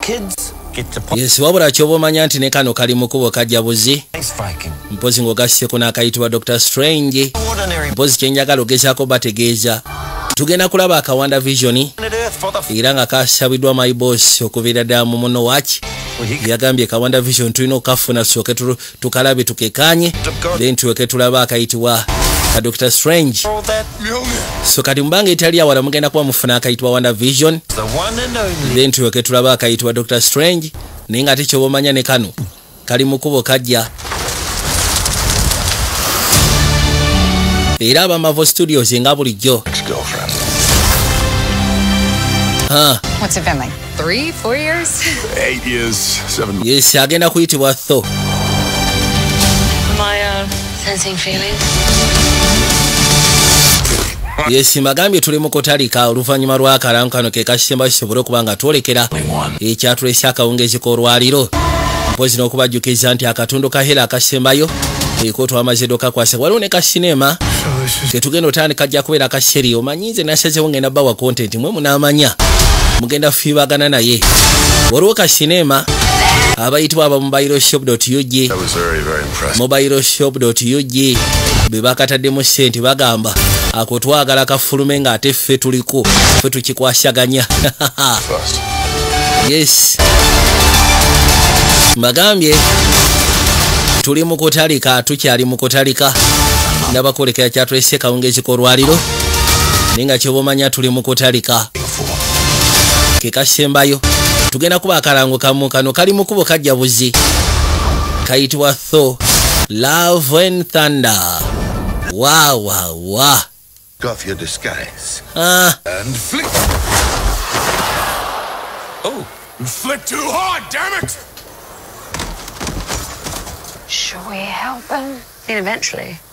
kids yes wabula kyoba omanya nti ne kano kali mukubo kajja buzi mpozi ng'ogasiseko n'akayitibwa dr strange mpozi kyenjagala ogezaako bategeeza tugenda kulaba akawanda visioni era nga kasabiddwa my boss okubeera ddala mu muno waki yagambye kawanda vision tulina okukafuna sooke tukalabe tukekanye then tuweke tulaba akayitibwa ka dr strange so kati mubanga etali awala mugenda kuba mufuna akayitibwa wonder vision then tuweke tulaba akayitibwa dr strange naye nga ate kyoba omanya ne kano kali mukubo kajja era abamavo studios nga bulijjo Huh. What's it been like? Three, four years? Eight years, seven. Yes, agenda kuyitibwa tho. My uh, sensing feelings. yes magambye tuli mu kutalika oluvannyuma lw'akalamu kano ke kasemba kisobole okuba nga twolekera ekyatulesa akawungeezi k'olwaliro mpozi n'okubajjukiza nti akatundu ka hela akasembayo eko twamaze dokakwasa waliwo ne kasineema ketugenda otandika jja kubeera kaseri omanyi nze nasazewo ngenda bawa content mwe munamanya mugenda fibagana naye waliwo ka sinema abayitibwa aba mobile shop ug mobile shop ug bwe bakataddemu sente bagamba ako twagala kafulume ng'ate ffe tuliko ffe tukikwasaganya yes mbagambye tuli mu kutalika tukyali mu kutalika nabakolekera kyatweseka ungezikolwaliro naye nga kyoba omanya tuli mu kutalika kekasembayo tugenda kuba akalango kamu kano kali mu kubo kajja buzi kayitibwa tho love and thunder wawawa wa, wa. wa. off your disguise. Uh. And flick. Oh, you flick too hard, damn it! Should we help him? I mean, eventually.